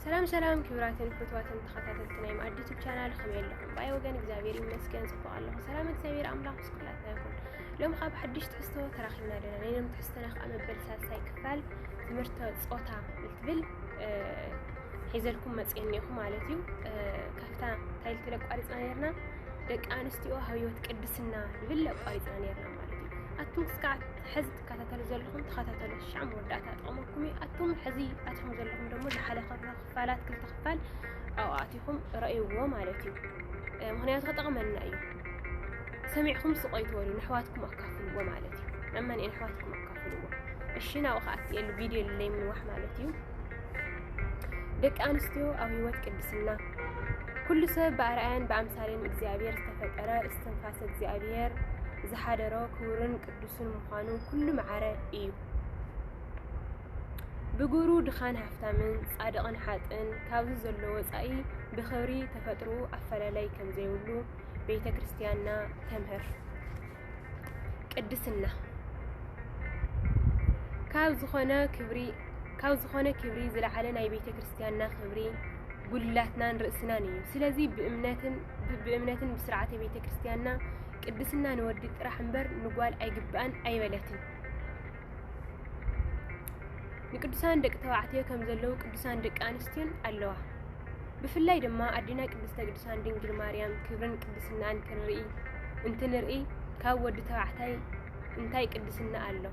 ሰላም ሰላም ክብራትን ፍትዋትን ተኸታተልቲ ናይ መኣዲ ዩቱብ ቻናል ከመይ ኣለኹም? ባይ ወገን እግዚኣብሔር ይመስገን ጽቡቕ ኣለኹ። ሰላም እግዚኣብሔር ኣምላኽ ምስ ኩላትና ይኹን። ሎም ካብ ሓድሽ ትሕዝቶ ተራኺብና ኣለና። ናይ ሎም ትሕዝቶና ከዓ መበል ሳልሳይ ክፋል ትምህርተ ጾታ እትብል ሒዘልኩም መጽኤ እኒኹ ማለት እዩ። ካብታ እንታይ ልትብል ኣቋሪፅና ነርና? ደቂ ኣንስትዮ ኣብ ህይወት ቅድስና ልብል ኣቋሪፅና ነርና ማለት እዩ። ኣቱም ክስከዓ ሕዚ ትከታተሉ ዘለኹም ተኸታተሉ ሽዓ መወዳእታ ጠቕመኩም እዩ ኣቱም ሕዚ ኣትኹም ዘለኹም ደሞ ዝሓለ ክፋላት ክልተ ክፋል ኣብኡ ኣቲኹም ረእይዎ ማለት እዩ ምክንያቱ ክጠቕመና እዩ ሰሚዕኩም ስቆይ ትበሉ ንሕዋትኩም ኣካፍልዎ ማለት እዩ ናብ መን ኣሕዋትኩም ኣካፍልዎ እሺ ናብኡ ከኣትየሉ ቪድዮ ልለይ ምንዋሕ ማለት እዩ ደቂ ኣንስትዮ ኣብ ህይወት ቅድስና ኩሉ ሰብ ብኣርኣያን ብኣምሳሌን እግዚኣብሔር ዝተፈጠረ እስትንፋሰ እግዚኣብሔር ዝሓደሮ ክቡርን ቅዱስን ምዃኑ ኩሉ መዓረ እዩ። ብግብሩ ድኻን ሃፍታምን፣ ጻድቕን ሓጥእን ካብዚ ዘሎ ወጻኢ ብኽብሪ ተፈጥሮኡ ኣፈላላይ ከም ዘይብሉ ቤተ ክርስቲያንና ተምህር። ቅድስና ካብ ዝኾነ ክብሪ ካብ ዝኾነ ክብሪ ዝለዓለ ናይ ቤተ ክርስቲያንና ክብሪ ጉልላትናን ርእስናን እዩ። ስለዚ ብእምነትን ብእምነትን ብስርዓተ ቤተ ክርስቲያንና ቅድስና ንወዲ ጥራሕ እምበር ንጓል ኣይግባእን ኣይበለትን። ንቅዱሳን ደቂ ተባዕትዮ ከም ዘለዉ ቅዱሳን ደቂ ኣንስትዮን ኣለዋ። ብፍላይ ድማ ኣዴና ቅድስተ ቅዱሳን ድንግል ማርያም ክብርን ቅድስናን ክንርኢ እንትንርኢ ካብ ወዲ ተባዕታይ እንታይ ቅድስና ኣሎ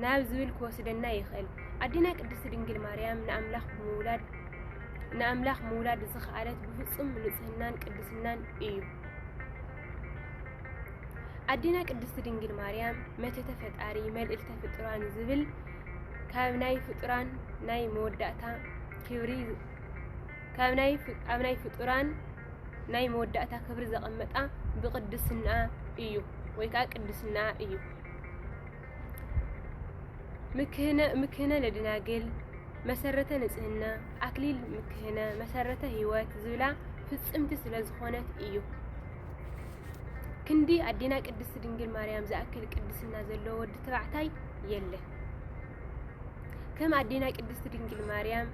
ናብ ዝብል ክወስደና ይኽእል። ኣዴና ቅድስቲ ድንግል ማርያም ንኣምላኽ ብምውላድ ንኣምላኽ ምውላድ ዝኸኣለት ብፍጹም ንጽህናን ቅድስናን እዩ። ኣዴና ቅድስት ድንግል ማርያም መተተ ፈጣሪ መልእልተ ፍጡራን ዝብል ካብ ናይ ፍጡራን ናይ መወዳእታ ክብሪ ካብ ናይ ኣብ ናይ ፍጡራን ናይ መወዳእታ ክብሪ ዘቐመጣ ብቅድስና እዩ ወይ ከዓ ቅድስና እዩ። ምክህነ ምክህነ ለደናግል መሰረተ ንጽህና ኣክሊል ምክህነ መሰረተ ህይወት ዝብላ ፍጽምቲ ስለ ዝኾነት እዩ። ክንዲ ኣዴና ቅድስቲ ድንግል ማርያም ዝኣክል ቅድስና ዘለዎ ወዲ ተባዕታይ የለን። ከም ኣዴና ቅድስቲ ድንግል ማርያም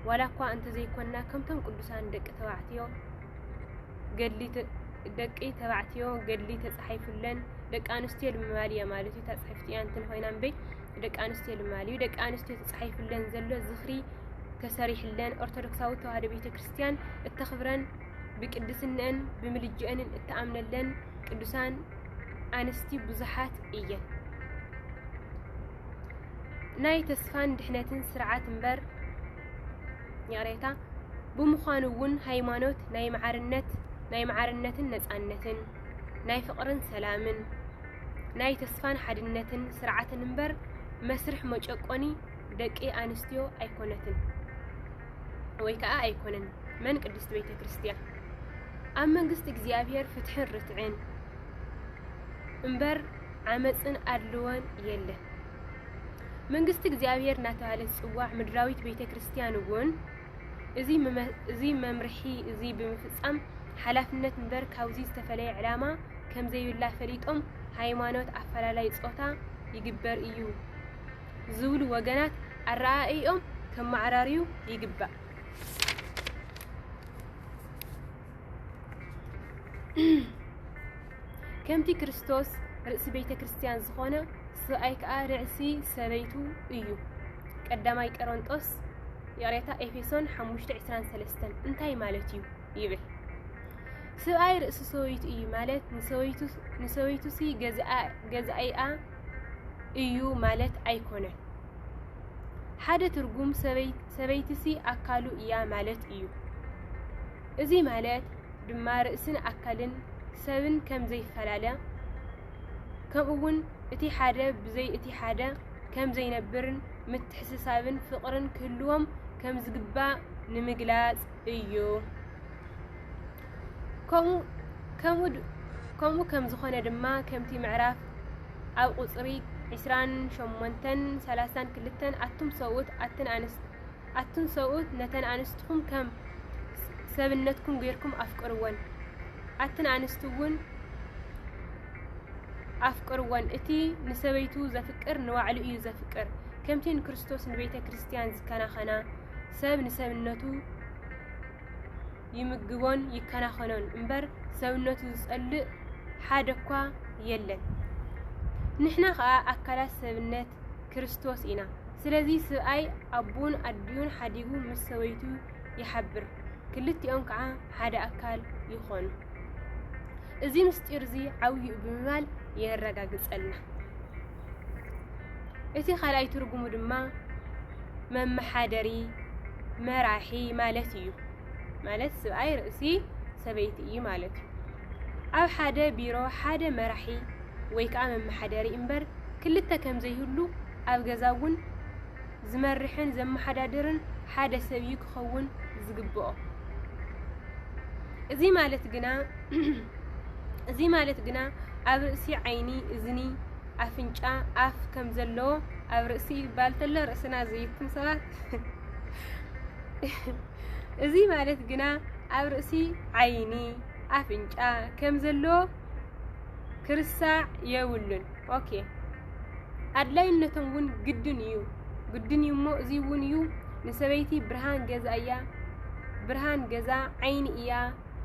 ዋላ እኳ እንተዘይኮንና ከምቶም ቅዱሳን ደቂ ተባዕትዮ ገድሊ ደቂ ተባዕትዮ ገድሊ ተጻሒፉለን ደቂ ኣንስትዮ ልማድ እያ ማለት እዩ። ተጻሒፍቲ እያ እንትን ኮይና እምበይ ደቂ ኣንስትዮ ልማድ እዩ። ደቂ ኣንስትዮ ተጻሒፉለን ዘሎ ዝኽሪ ተሰሪሕለን ኦርቶዶክሳዊ ተዋህዶ ቤተ ክርስቲያን እተኽብረን ብቅድስነን ብምልጅአንን እተኣምነለን ቅዱሳን ኣንስቲ ብዙሓት እየን። ናይ ተስፋን ድሕነትን ስርዓት እምበር ይቕሬታ ብምዃኑ እውን ሃይማኖት ናይ ማዕርነት ናይ ማዕርነትን ነፃነትን ናይ ፍቕርን ሰላምን ናይ ተስፋን ሓድነትን ስርዓትን እምበር መስርሕ መጨቆኒ ደቂ ኣንስትዮ ኣይኮነትን ወይ ከዓ ኣይኮነን። መን ቅድስት ቤተ ክርስቲያን ኣብ መንግስቲ እግዚኣብሔር ፍትሕን ርትዕን እምበር ዓመጽን ኣድልዎን የለን። መንግስቲ እግዚኣብሔር እናተባህለ ዝፅዋዕ ምድራዊት ቤተ ክርስቲያን እውን እዚ መምርሒ እዚ ብምፍፃም ሓላፍነት እምበር ካብዚ ዝተፈለየ ዕላማ ከም ዘይብላ ፈሊጦም ሃይማኖት ኣፈላላይ ፆታ ይግበር እዩ ዝብሉ ወገናት ኣረኣእዮም ከመዓራርዩ ይግባእ። ከምቲ ክርስቶስ ርእሲ ቤተ ክርስቲያን ዝኾነ ሰብኣይ ከዓ ርእሲ ሰበይቱ እዩ። ቀዳማይ ቀረንጦስ ይቕሬታ ኤፌሶን 5:23 እንታይ ማለት እዩ ይብል ሰብኣይ ርእሲ ሰበይቱ እዩ ማለት ንሰበይቱሲ ገዛኢኣ እዩ ማለት ኣይኮነን። ሓደ ትርጉም ሰበይትሲ ኣካሉ እያ ማለት እዩ። እዚ ማለት ድማ ርእስን ኣካልን ሰብን ከም ዘይፈላለ ከምኡውን እቲ ሓደ ብዘይ እቲ ሓደ ከም ዘይነብርን ምትሕስሳብን ፍቕርን ክህልዎም ከም ዝግባእ ንምግላጽ እዩ። ከምኡ ከም ዝኾነ ድማ ከምቲ ምዕራፍ ኣብ ቁጽሪ ዕስራን ሸሞንተን ሰላሳን ክልተን ኣቱም ሰብኡት ኣትን ኣንስት ኣቱም ሰብኡት ነተን ኣንስትኹም ከም ሰብነትኩም ጌርኩም ኣፍቅርወን ኣትን ኣንስት እውን ኣፍቅርወን እቲ ንሰበይቱ ዘፍቅር ንባዕሉ እዩ ዘፍቅር ከምቲ ንክርስቶስ ንቤተ ክርስቲያን ዝከናኸና ሰብ ንሰብነቱ ይምግቦን ይከናኸኖን እምበር ሰብነቱ ዝጸልእ ሓደ እኳ የለን። ንሕና ኸኣ ኣካላት ሰብነት ክርስቶስ ኢና። ስለዚ ስብኣይ ኣቡን ኣዲኡን ሓዲጉ ምስ ሰበይቱ ይሓብር፣ ክልቲኦም ከዓ ሓደ ኣካል ይኾኑ። እዚ ምስጢር እዚ ዓብዩ ብምባል የረጋግጸልና። እቲ ካልኣይ ትርጉሙ ድማ መመሓደሪ መራሒ ማለት እዩ። ማለት ስብኣይ ርእሲ ሰበይቲ እዩ ማለት እዩ። ኣብ ሓደ ቢሮ ሓደ መራሒ ወይ ከዓ መመሓደሪ እምበር ክልተ ከም ዘይህሉ ኣብ ገዛ እውን ዝመርሕን ዘመሓዳድርን ሓደ ሰብ እዩ ክኸውን ዝግብኦ። እዚ ማለት ግና እዚ ማለት ግና ኣብ ርእሲ ዓይኒ፣ እዝኒ፣ ኣፍንጫ፣ ኣፍ ከም ዘለዎ ኣብ ርእሲ ይባል ተሎ ርእስና ዘይኩም ሰባት እዚ ማለት ግና ኣብ ርእሲ ዓይኒ፣ ኣፍንጫ ከም ዘለዎ ክርሳዕ የብሉን። ኦኬ ኣድላይነቶም እውን ግድን እዩ ግድን እዩ እሞ እዙይ እውን እዩ ንሰበይቲ ብርሃን ገዛ እያ ብርሃን ገዛ ዓይኒ እያ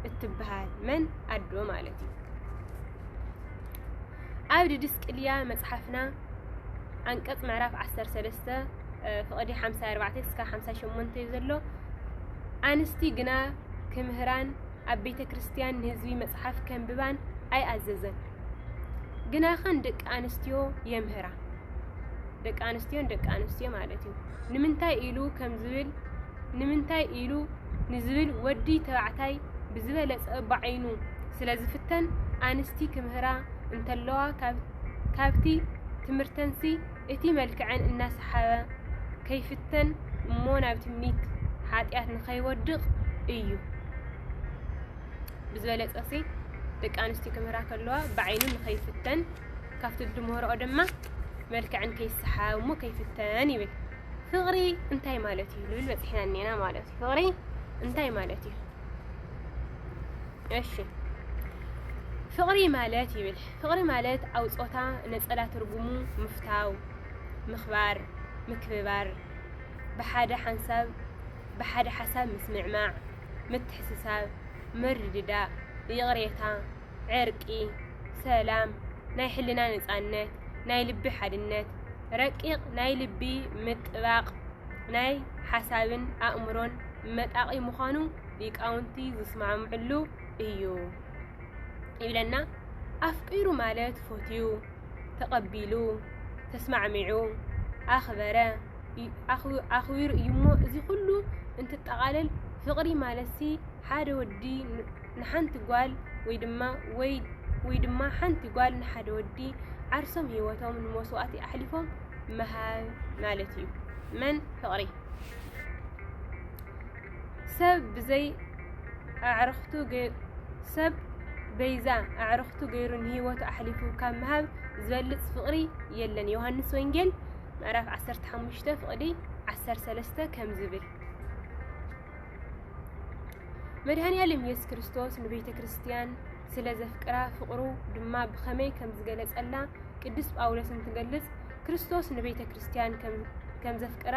እትብሃል መን ኣዶ ማለት እዩ ኣብ ድድስቅልያ መጽሓፍና ዓንቀጽ ምዕራፍ 13 ፍቕዲ 54 እስከ 58 እዩ ዘሎ ኣንስቲ ግና ክምህራን ኣብ ቤተ ክርስቲያን ንህዝቢ መጽሓፍ ከንብባን ኣይኣዘዘን ግናኸ ንደቂ ኣንስትዮ የምህራ ደቂ ኣንስትዮ ንደቂ ኣንስትዮ ማለት እዩ ንምንታይ ኢሉ ከም ዝብል ንምንታይ ኢሉ ንዝብል ወዲ ተባዕታይ ብዝበለፀ ብዓይኑ ስለ ዝፍተን ኣንስቲ ክምህራ እንተለዋ ካብቲ ትምህርተንሲ እቲ መልክዐን እናሰሓበ ከይፍተን እሞ ናብ ትምኒት ሓጢኣት ንኸይወድቕ እዩ። ብዝበለፀ ሲ ደቂ ኣንስትዩ ክምህራ ከለዋ ብዓይኑ ንኸይፍተን ካብቲ ዝድምህረኦ ድማ መልክዕን ከይሰሓብ እሞ ከይፍተን ይብል። ፍቕሪ እንታይ ማለት እዩ ልብል በፂሕና እኔና ማለት እዩ። ፍቕሪ እንታይ ማለት እዩ? እሺ ፍቕሪ ማለት ይብል ፍቕሪ ማለት ኣብ ፆታ ነፀላ ትርጉሙ ምፍታው፣ ምኽባር፣ ምክብባር፣ ብሓደ ሓንሳብ ብሓደ ሓሳብ ምስምዕማዕ ምትሕስሳብ፣ ምርድዳእ፣ ይቕሬታ፣ ዕርቂ፣ ሰላም፣ ናይ ሕልና ነፃነት፣ ናይ ልቢ ሓድነት፣ ረቂቕ ናይ ልቢ ምጥባቕ፣ ናይ ሓሳብን ኣእምሮን መጣቒ ምዃኑ ሊቃውንቲ ዝስማምዕሉ እዩ ይብለና። ኣፍቂሩ ማለት ፎትዩ ተቐቢሉ፣ ተስማዕሚዑ፣ ኣኽበረ፣ ኣኽቢሩ እዩሞ እዚ ኩሉ እንትጠቓለል ፍቕሪ ማለትሲ ሓደ ወዲ ንሓንቲ ጓል ወይ ድማ ወይ ወይ ድማ ሓንቲ ጓል ንሓደ ወዲ ዓርሶም ህይወቶም ንመስዋእቲ ኣሕሊፎም ምሃብ ማለት እዩ። መን ፍቕሪ ሰብ ብዘይ ኣዕርኽቱ ሰብ በይዛ ኣዕርኽቱ ገይሩ ንህይወቱ ኣሕሊፉ ካብ ምሃብ ዝበልጽ ፍቕሪ የለን ዮሃንስ ወንጌል ምዕራፍ 15 ፍቕዲ 13 ከም ዝብል መድኃኔዓለም ኢየሱስ ክርስቶስ ንቤተ ክርስቲያን ስለ ዘፍቅራ ፍቕሩ ድማ ብኸመይ ከም ዝገለጸላ ቅዱስ ጳውሎስ እንትገልጽ ክርስቶስ ንቤተ ክርስቲያን ከም ዘፍቅራ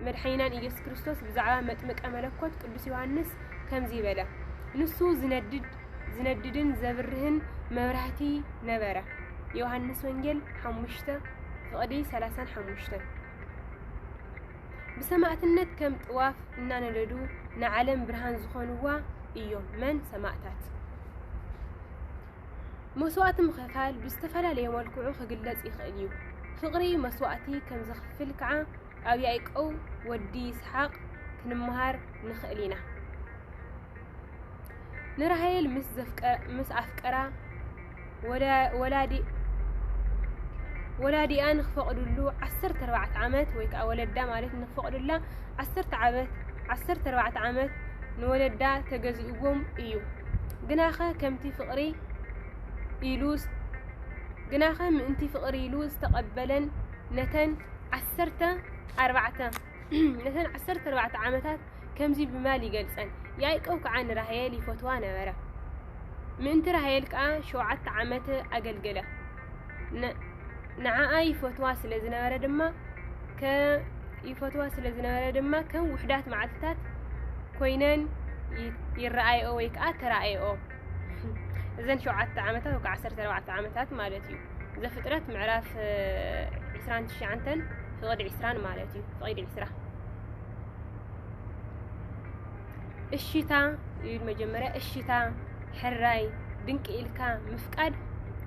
መድሓኒናን ኢየሱስ ክርስቶስ ብዛዕባ መጥምቀ መለኮት ቅዱስ ዮሃንስ ከምዚ በለ፣ ንሱ ዝነድድ ዝነድድን ዘብርህን መብራህቲ ነበረ። ዮሃንስ ወንጌል 5 ፍቕዲ 35 ብሰማዕትነት ከም ጥዋፍ እናነደዱ ንዓለም ብርሃን ዝኾንዋ እዮም። መን ሰማዕታት መስዋእቲ ምኽፋል ብዝተፈላለየ መልክዑ ክግለጽ ይኽእል እዩ። ፍቕሪ መስዋእቲ ከም ዘኽፍል ከዓ ኣብ ያዕቆብ ወዲ ይስሓቅ ክንመሃር ንኽእል ኢና። ንራሄል ምስ ኣፍቀራ ወላዲኣ ንክፈቕድሉ ዓሰርተ ኣርባዕተ ዓመት ወይ ከዓ ወለዳ ማለት ንክፈቕዱላ ዓሰርተ ዓመት ዓሰርተ ኣርባዕተ ዓመት ንወለዳ ተገዚኡዎም እዩ ግናኸ ከምቲ ፍቕሪ ኢሉ ግናኸ ምእንቲ ፍቕሪ ኢሉ ዝተቐበለን ነተን ዓሰርተ ኣርባዕተ ነተን ዓሰርተ ኣርባዕተ ዓመታት ከምዚ ብማል ይገልጸን ያዕቆብ ከዓ ንራሄል ይፈትዋ ነበረ ምእንቲ ራሄል ከዓ ሸውዓተ ዓመት ኣገልገለ ንዓኣ ይፈትዋ ስለ ዝነበረ ድማ ይፈትዋ ስለ ዝነበረ ድማ ከም ውሕዳት መዓልትታት ኮይነን ይረኣይኦ ወይ ከዓ ተራእይኦ እዘን ሸውዓተ ዓመታት ወይ ዓሰርተ ኣርባዕተ ዓመታት ማለት እዩ ዘፍጥረት ምዕራፍ ዕስራን ትሽዓንተን ፍቕዲ ዕስራን ማለት እዩ ፍቕዲ ዕስራ እሺታ እዩ መጀመርያ እሺታ ሕራይ ድንቂ ኢልካ ምፍቃድ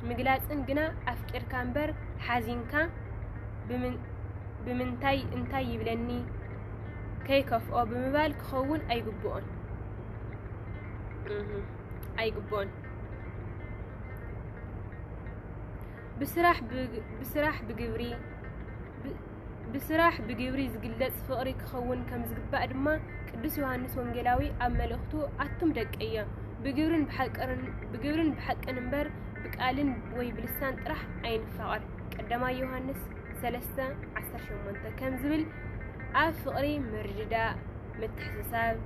ምግላጽን ግና ኣፍቂርካ እምበር ሓዚንካ ብምንታይ እንታይ ይብለኒ ከይከፍኦ ብምባል ክኸውን ኣይግብኦን ኣይግብኦን ብስራሕ ብስራሕ ብግብሪ ብስራሕ ብግብሪ ዝግለጽ ፍቕሪ ክኸውን ከም ዝግባእ ድማ ቅዱስ ዮሃንስ ወንጌላዊ ኣብ መልእኽቱ ኣቱም ደቀየ ብግብርን ብሓቅርን ብግብርን ብሓቅን እምበር ብቃልን ወይ ብልሳን ጥራሕ ኣይንፋቐር ቀዳማይ ዮሃንስ ሰለስተ ዓሰርተ ሸሞንተ ከም ዝብል ኣብ ፍቕሪ ምርድዳእ ምትሕስሳብ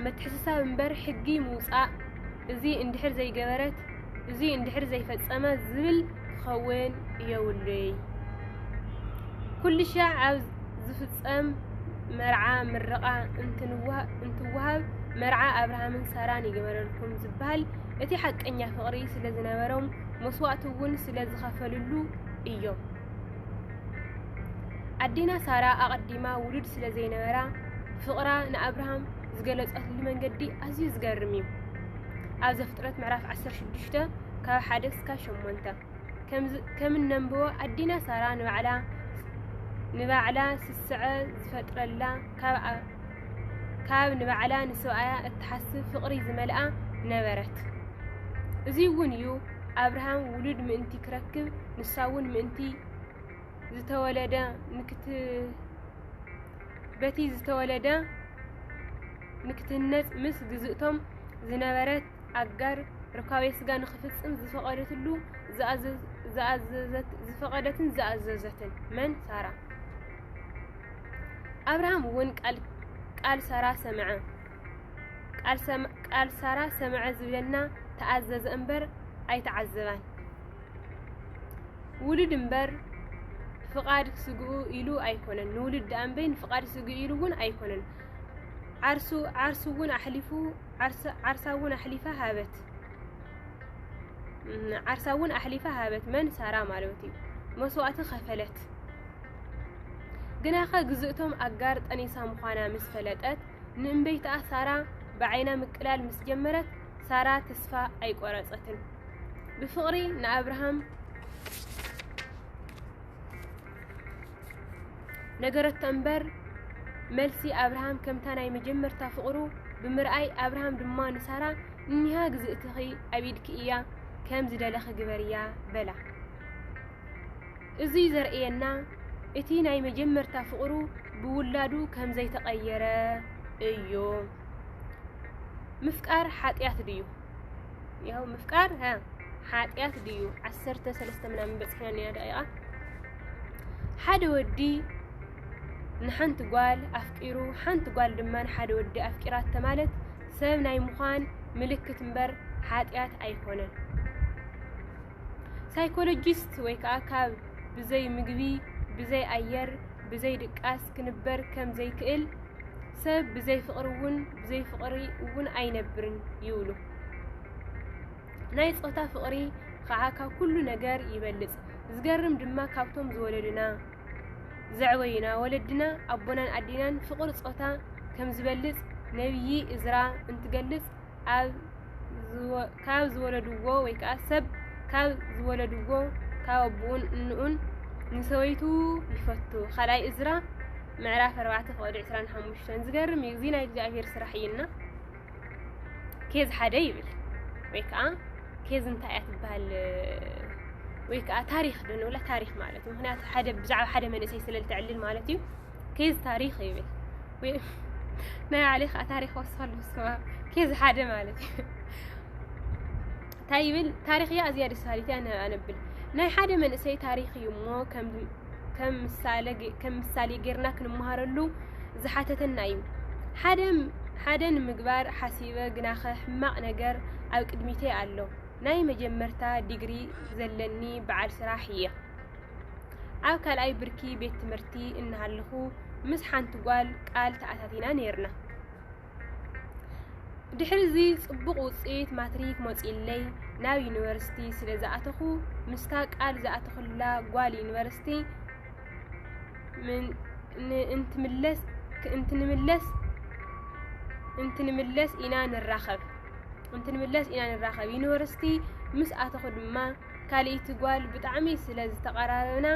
ምትሕስሳብ እምበር ሕጊ ምውጻእ እዚ እንድሕር ዘይገበረት እዙይ እንድሕር ዘይፈፀመ ዝብል ክኸውን የብሉይ። ኩልሻዕ ኣብ ዝፍፀም መርዓ ምርቓ እንትወሃብ መርዓ ኣብርሃምን ሳራን ይግበረልኩም ዝበሃል እቲ ሓቀኛ ፍቕሪ ስለዝነበሮም መስዋእቲ እውን ስለዝኸፈልሉ እዮም። ኣዴና ሳራ ኣቐዲማ ውሉድ ስለዘይነበራ ፍቕራ ንኣብርሃም ዝገለፀትሉ መንገዲ ኣዝዩ ዝገርም እዩ። ኣብ ዘፍጥረት ምዕራፍ 16 ካብ ሓደ ክሳብ ሸሞንተ ከም እነንብቦ ኣዲና ሳራ ንባዕላ ንባዕላ ስስዐ ዝፈጥረላ ካብ ንባዕላ ንሰብኣያ እትሓስብ ፍቕሪ ዝመልኣ ነበረት። እዚ እውን እዩ ኣብርሃም ውሉድ ምእንቲ ክረክብ ንሳ እውን ምእንቲ ዝተወለደ በቲ ዝተወለደ ንክትህነጽ ምስ ግዝእቶም ዝነበረት ኣጋር ርካቤ ስጋ ንክፍጽም ዝፈቐደትሉ ዝፈቐደትን ዝኣዘዘትን መን ሳራ ኣብርሃም እውን ቃል ቃል ሳራ ሰምዐ ቃል ሳራ ሰምዐ ዝብለና ተኣዘዘ እምበር ኣይተዓዘባን ውሉድ እምበር ፍቓድ ስግኡ ኢሉ ኣይኮነን ንውሉድ ደኣ እምበይ ንፍቓድ ስግኡ ኢሉ እውን ኣይኮነን ዓርሱ ዓርሱ እውን ኣሕሊፉ ዓርሳ እውን ኣሕሊፋ ሃበት ዓርሳ እውን ኣሕሊፋ ሃበት መን ሳራ ማለት እዩ መስዋእቲ ከፈለት ግናኸ ግዝእቶም ኣጋር ጠኒሳ ምዃና ምስ ፈለጠት ንእምበይትኣ ሳራ ብዓይና ምቅላል ምስ ጀመረት ሳራ ተስፋ ኣይቆረጸትን ብፍቕሪ ንኣብርሃም ነገረቶ እምበር መልሲ ኣብርሃም ከምታ ናይ መጀመርታ ፍቕሩ ብምርኣይ ኣብርሃም ድማ ንሳራ እኒሃ ግዝእትኺ ኣብ ኢድኪ እያ ከም ዝደለኺ ግበርያ በላ እዙይ ዘርእየና እቲ ናይ መጀመርታ ፍቕሩ ብውላዱ ከም ዘይተቐየረ እዩ ምፍቃር ሓጢኣት ድዩ ያው ምፍቃር ሓጢኣት ድዩ ዓሰርተ ሰለስተ ምናምን በፂሕና እኒኣ ደቂቓ ሓደ ወዲ ንሓንቲ ጓል ኣፍቂሩ ሓንቲ ጓል ድማ ንሓደ ወዲ ኣፍቂራት ማለት ሰብ ናይ ምዃን ምልክት እምበር ሓጢኣት ኣይኮነን ሳይኮሎጂስት ወይ ከዓ ካብ ብዘይ ምግቢ ብዘይ ኣየር ብዘይ ድቃስ ክንበር ከም ዘይክእል ሰብ ብዘይ ፍቕሪ እውን ብዘይ ፍቕሪ እውን ኣይነብርን ይብሉ። ናይ ፆታ ፍቕሪ ከዓ ካብ ኩሉ ነገር ይበልፅ። ዝገርም ድማ ካብቶም ዝወለዱና ዘዕበዩና ወለድና ኣቦናን ኣዴናን ፍቕሪ ፆታ ከም ዝበልፅ ነብዪ እዝራ እንትገልፅ ኣብ ካብ ዝወለድዎ ወይ ከኣ ሰብ ካብ ዝወለድዎ ካብ ኣቦኡን እንኡን ንሰበይቱ ይፈቱ። ካልኣይ እዝራ ምዕራፍ ኣርባዕተ ፍቕዲ ዕስራን ሓሙሽተን ዝገርም እዩ። እዚ ናይ እግዚኣብሔር ስራሕ እዩና ኬዝ ሓደ ይብል ወይ ከኣ ኬዝ እንታይ እያ ትበሃል ወይ ከኣ ታሪኽ ዶ ንብላ ታሪኽ ማለት እዩ። ምክንያቱ ሓደ ብዛዕባ ሓደ መንእሰይ ስለ ልተዕልል ማለት እዩ። ኬዝ ታሪኽ ይብል ወይ ናይ ባዕለይ ከዓ ታሪኽ ወስኸሉ ስማ ኬዝ ሓደ ማለት እዩ እንታይ ይብል ታሪኽ እያ ኣዝያ ደስ በሃሊት እያ ን- ኣነብል ናይ ሓደ መንእሰይ ታሪኽ እዩ እሞ ከም ከም ምሳሌ ገ- ከም ምሳሌ ጌርና ክንመሃረሉ ዝሓተተና እዩ ሓደ ሓደ ንምግባር ሓሲበ ግናኸ ሕማቕ ነገር ኣብ ቅድሚተይ ኣሎ ናይ መጀመርታ ዲግሪ ዘለኒ በዓል ስራሕ እየ ኣብ ካልኣይ ብርኪ ቤት ትምህርቲ እናሃለኹ ምስ ሓንቲ ጓል ቃል ተኣታቲና ነይርና። ድሕሪ እዚ ጽቡቕ ውጽኢት ማትሪክ መጺኡለይ ናብ ዩኒቨርሲቲ ስለ ዝኣተኹ ምስታ ቃል ዝኣተኹላ ጓል ዩኒቨርሲቲ እንትምለስ እንትንምለስ እንትንምለስ ኢና ንራኸብ እንትንምለስ ኢና ንራኸብ ዩኒቨርሲቲ ምስ ኣተኹ ድማ ካልኢቲ ጓል ብጣዕሚ ስለ ዝተቀራረብና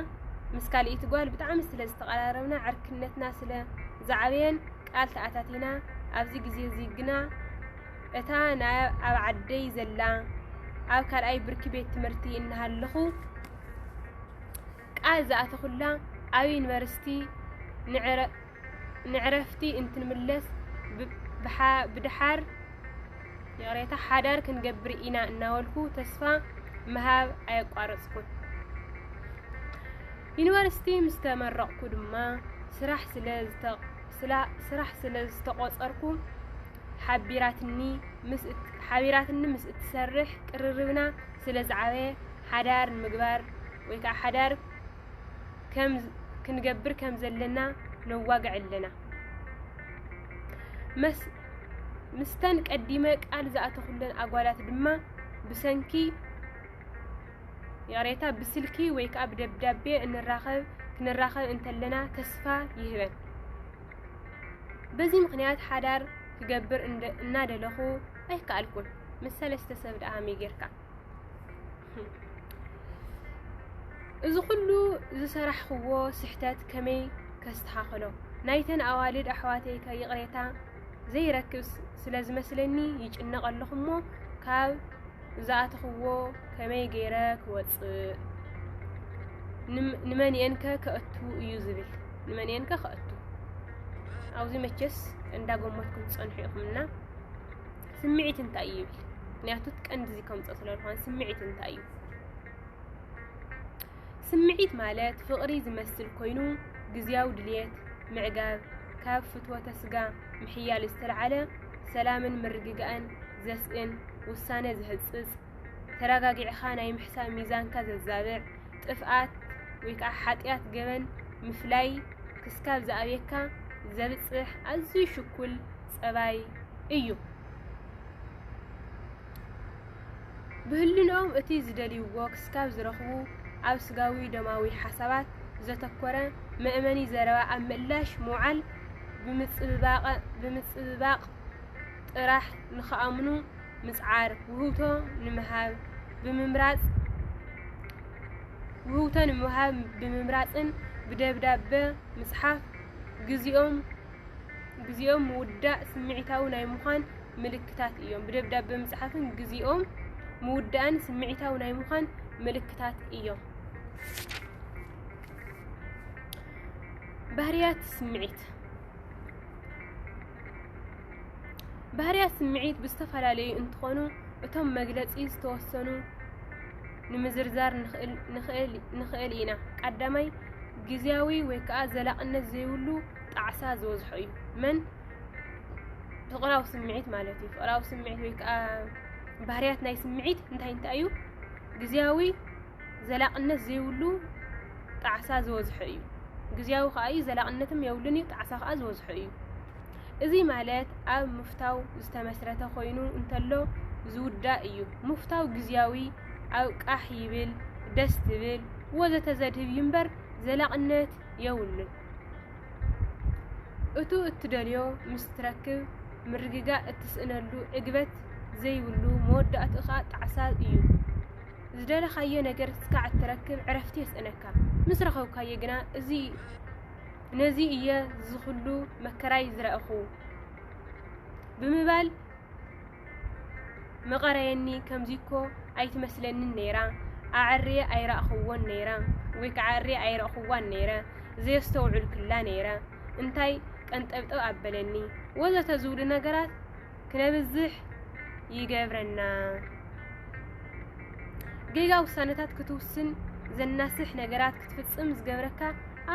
ምስ ካልኢቲ ጓል ብጣዕሚ ስለ ዝተቀራረብና ዕርክነትና ስለ ዝዓበየን ቃል ተኣታቲና ኣብዚ ግዜ እዚ ግና እታ ናይ ኣብ ዓደይ ዘላ ኣብ ካልኣይ ብርኪ ቤት ትምህርቲ እናሃለኹ ቃል ዝኣተኹላ ኣብ ዩኒቨርሲቲ ንዕረ ንዕረፍቲ እንትንምለስ ብደሓር ይቕሬታ ሓዳር ክንገብር ኢና እናበልኩ ተስፋ ምሃብ ኣየቋረጽኩን። ዩኒቨርሲቲ ምስ ተመረቕኩ ድማ ስራሕ ስለ ስራሕ ስለ ዝተቖጸርኩ ሓቢራትኒ ምስ ሓቢራትኒ ምስ እትሰርሕ ቅርርብና ስለ ዝዓበየ ሓዳር ንምግባር ወይ ከዓ ሓዳር ክንገብር ከም ዘለና ነዋግዕ ኣለና። ምስተን ቀዲመ ቃል ዝኣተኹለን ኣጓላት ድማ ብሰንኪ ይቕሬታ ብስልኪ ወይ ከዓ ብደብዳቤ እንራኸብ ክንራኸብ እንተለና ተስፋ ይህበን። በዚ ምክንያት ሓዳር ክገብር እናደለኹ ኣይከኣልኩን ምስ ሰለስተ ሰብ ደኣ ሃመይ ጌርካ እዚ ኩሉ ዝሰራሕኽዎ ስሕተት ከመይ ከስተኻኽሎ ናይተን ኣዋልድ ኣሕዋተይ ከ ይቕሬታ ዘይረክብ ስለ ዝመስለኒ ይጭነቕ ኣለኹ እሞ ካብ ዝኣተኽዎ ከመይ ገይረ ክወፅእ ንመን እየን ከ ከእቱ እዩ ዝብል ንመን እየን ከ ከእቱ ኣብዚ መቸስ እንዳጎመትኩም ትፀንሑ ኢኹምና ስምዒት እንታይ እዩ ይብል ምክንያቱ ቀንዲ እዚ ከምፅኦ ስለ ዝኾነ ስምዒት እንታይ እዩ ስምዒት ማለት ፍቕሪ ዝመስል ኮይኑ ግዝያዊ ድልየት ምዕጋብ ካብ ፍትወተ ስጋ ምሕያል ዝተልዓለ ሰላምን ምርግጋእን ዘስእን ውሳነ ዝህፅፅ ተረጋጊዕኻ ናይ ምሕሳብ ሚዛንካ ዘዛብዕ ጥፍኣት ወይ ከዓ ሓጢኣት ገበን ምፍላይ ክስካብ ዝኣብየካ ዘብፅሕ ኣዝዩ ሽኩል ጸባይ እዩ። ብህልንኦም እቲ ዝደልይዎ ክስካብ ዝረኽቡ ኣብ ስጋዊ ደማዊ ሓሳባት ዘተኮረ መእመኒ ዘረባ ኣብ ምእላሽ ምውዓል ብምጽብባቕ ጥራሕ ንክኣምኑ ምጽዓር ውህብቶ ንምሃብ ብምምራጽ ውህብቶ ንምሃብ ብምምራጽን ብደብዳበ ምጽሓፍ ግዜኦም ግዜኦም ምውዳእ ስምዒታዊ ናይ ምዃን ምልክታት እዮም። ብደብዳበ ምጽሓፍን ግዜኦም ምውዳእን ስምዒታዊ ናይ ምዃን ምልክታት እዮም። ባህርያት ስምዒት ባህርያት ስምዒት ብዝተፈላለዩ እንትኾኑ እቶም መግለፂ ዝተወሰኑ ንምዝርዛር ንኽእል ኢና። ቀዳማይ ግዜያዊ ወይ ከዓ ዘላቕነት ዘይብሉ ጣዕሳ ዝበዝሖ እዩ መን ፍቕራዊ ስምዒት ማለት እዩ ፍቕራዊ ስምዒት ወይ ከዓ ባህርያት ናይ ስምዒት እንታይ እንታይ እዩ ግዜያዊ ዘላቕነት ዘይብሉ ጣዕሳ ዝበዝሖ እዩ ግዜያዊ ከዓ እዩ ዘላቕነትም የብሉን እዩ ጣዕሳ ከዓ ዝበዝሖ እዩ እዚ ማለት ኣብ ምፍታው ዝተመስረተ ኮይኑ እንተሎ ዝውዳእ እዩ ምፍታው ግዜያዊ ኣብ ቃሕ ይብል ደስ ትብል ወዘተ ዘድህብ እዩ እምበር ዘላቕነት የውሉን። እቱ እትደልዮ ምስ ትረክብ ምርግጋእ እትስእነሉ ዕግበት ዘይብሉ መወዳእቱ ኸኣ ጣዕሳ እዩ። ዝደለኻዮ ነገር እስካዕ እትረክብ ዕረፍቲ የስእነካ። ምስ ረኸብካዮ ግና እዚ ነዚ እየ ዝኹሉ መከራይ ዝረእኹ ብምባል መቐረየኒ ከምዚ እኮ ኣይትመስለንን ነይራ ኣዐርየ ኣይራእኹዎን ነይረ ወይ ከዓ ኣዐርየ ኣይረእኹዋን ነይረ ዘየስተውዕልኩላ ነይረ እንታይ ቀንጠብጠብ ኣበለኒ ወዘተ ዝብሉ ነገራት ክነብዝሕ ይገብረና። ጌጋ ውሳነታት ክትውስን ዘናስሕ ነገራት ክትፍጽም ዝገብረካ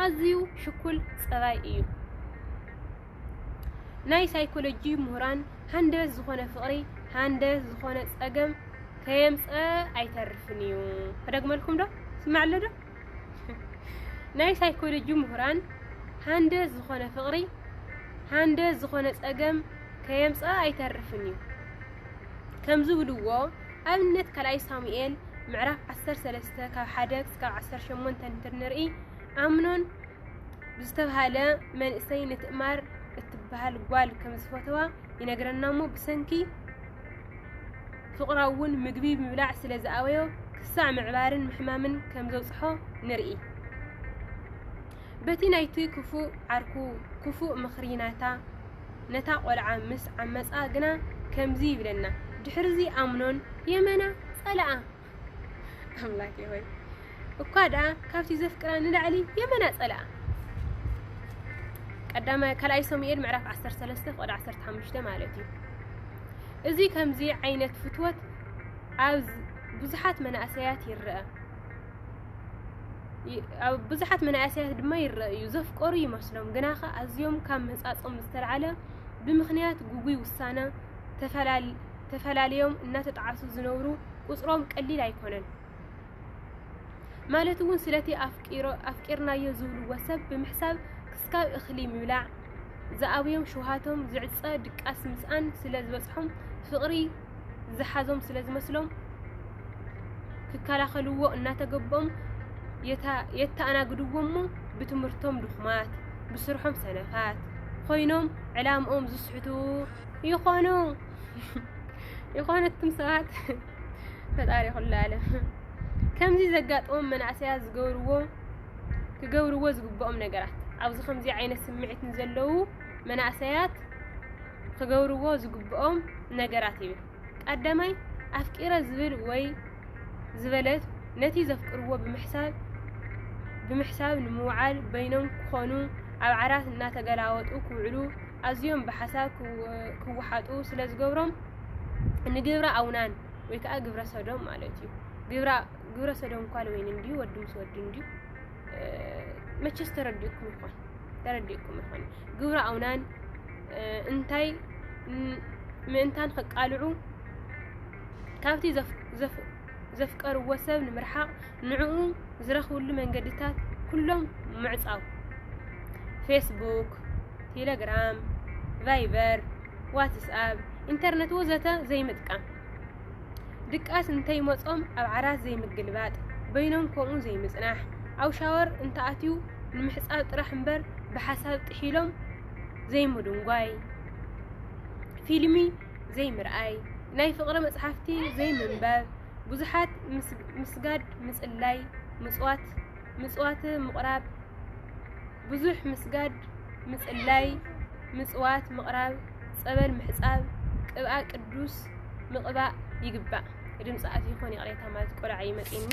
ኣዝዩ ሽኩል ጸባይ እዩ። ናይ ሳይኮሎጂ ምሁራን ሃንደበት ዝኾነ ፍቕሪ ሃንደበት ዝኾነ ጸገም ከየምጸ ኣይተርፍን እዩ። ክደግመልኩም ዶ ስማዕ ኣሎ ዶ ናይ ሳይኮሎጂ ምሁራን ሃንደ ዝኾነ ፍቕሪ ሃንደ ዝኾነ ጸገም ከየምጽኣ ኣይተርፍን እዩ ከም ዝብልዎ ኣብነት ካልኣይ ሳሙኤል ምዕራፍ 13 ካብ 1 ክሳብ 18 እንትንርኢ ኣምኖን ብዝተብሃለ መንእሰይ ንትእማር እትብሃል ጓል ከም ዝፈተዋ ይነግረና እሞ ብሰንኪ ፍቕራ እውን ምግቢ ምብላዕ ስለ ዝኣበዮ ክሳዕ ምዕባርን ምሕማምን ከም ዘብጽሖ ንርኢ በቲ ናይቲ ክፉእ ዓርኩ ክፉእ ምኽሪ ናታ ነታ ቆልዓ ምስ ዓመጻ ግና ከምዚ ይብለና ድሕርዚ ኣምኖን የመና ጸልኣ ኣምላኬ ሆይ እኳ ደኣ ካብቲ ዘፍቅራ ንላዕሊ የመና ጸልኣ ቀዳማይ ካልኣይ ሰሙኤል ምዕራፍ 13 ቁጥሪ 15 ማለት እዩ እዚ ከምዚ ዓይነት ፍትወት ኣብ ብዙሓት መናእሰያት ይረአ ኣብ ብዙሓት መናእሰያት ድማ ይረአ እዩ ዘፍቀሩ ይመስሎም ግና ከ ኣዝዮም ካብ ምህጻጾም ዝተልዓለ ብምክንያት ጉጉይ ውሳነ ተፈላለዮም እናተጣዓሱ ዝነብሩ ቁጽሮም ቀሊል ኣይኮነን። ማለት እውን ስለቲ ኣፍቂርናዮ ዝብልዎ ሰብ ብምሕሳብ ክስካብ እኽሊ ምብላዕ ዝኣብዮም ሽውሃቶም ዝዕጸ ድቃስ ምስኣን ስለ ዝበጽሖም ፍቕሪ ዝሓዞም ስለ ዝመስሎም ክከላኸልዎ እናተገበኦም የተኣናግድዎ እሞ ብትምህርቶም ድኹማት ብስርሖም ሰነፋት ኮይኖም ዕላምኦም ዝስሕቱ ይኾኑ። የኾነትኩም ሰባት ፈጣሪ ኩሉ ዓለም ከምዚ ዘጋጥሞም መናእሰያት ዝገብርዎ ክገብርዎ ዝግብኦም ነገራት ኣብዚ ከምዚ ዓይነት ስምዒት ንዘለዉ መናእሰያት ክገብርዎ ዝግብኦም ነገራት ይብል ቀዳማይ ኣፍቂረ ዝብል ወይ ዝበለት ነቲ ዘፍቅርዎ ብምሕሳብ ብምሕሳብ ንምውዓል በይኖም ክኾኑ ኣብ ዓራት እናተገላወጡ ክውዕሉ ኣዝዮም ብሓሳብ ክወሓጡ ስለ ዝገብሮም ንግብረ ኣውናን ወይ ከዓ ግብረ ሰዶም ማለት እዩ። ግብረ ሰዶም እኳ ወይን እንዲሁ ወዲ ምስ ወዲ እንዲሁ መቸስ ተረዲእኩም ይኾን ተረዲእኩም ይኾን ግብረ ኣውናን እንታይ ምእንታን ከቃልዑ ካብቲ ዘፍቀርዎ ሰብ ንምርሓቕ ንዕኡ ዝረኽብሉ መንገድታት ኩሎም ምዕጻው፣ ፌስቡክ፣ ቴለግራም፣ ቫይበር፣ ዋትስኣብ፣ ኢንተርነት ወዘተ ዘይምጥቃም፣ ድቃስ እንተይመጾም ኣብ ዓራት ዘይምግልባጥ፣ በይኖም ከምኡ ዘይምጽናሕ፣ ኣብ ሻወር እንተኣትዩ ንምሕጻብ ጥራሕ እምበር ብሓሳብ ጥሒሎም ዘይምድንጓይ፣ ፊልሚ ዘይምርኣይ፣ ናይ ፍቕሪ መጽሓፍቲ ዘይምንባብ፣ ብዙሓት ምስጋድ ምጽላይ ምጽዋት ምጽዋት ምቕራብ ብዙሕ ምስጋድ ምጽላይ ምጽዋት ምቕራብ ጸበል ምሕጻብ ቅብኣ ቅዱስ ምቕባእ ይግባእ ድምፂ ኣትዩ ይኾን ይቕሬታ ማለት ቆልዓ እዩ መፂኡኒ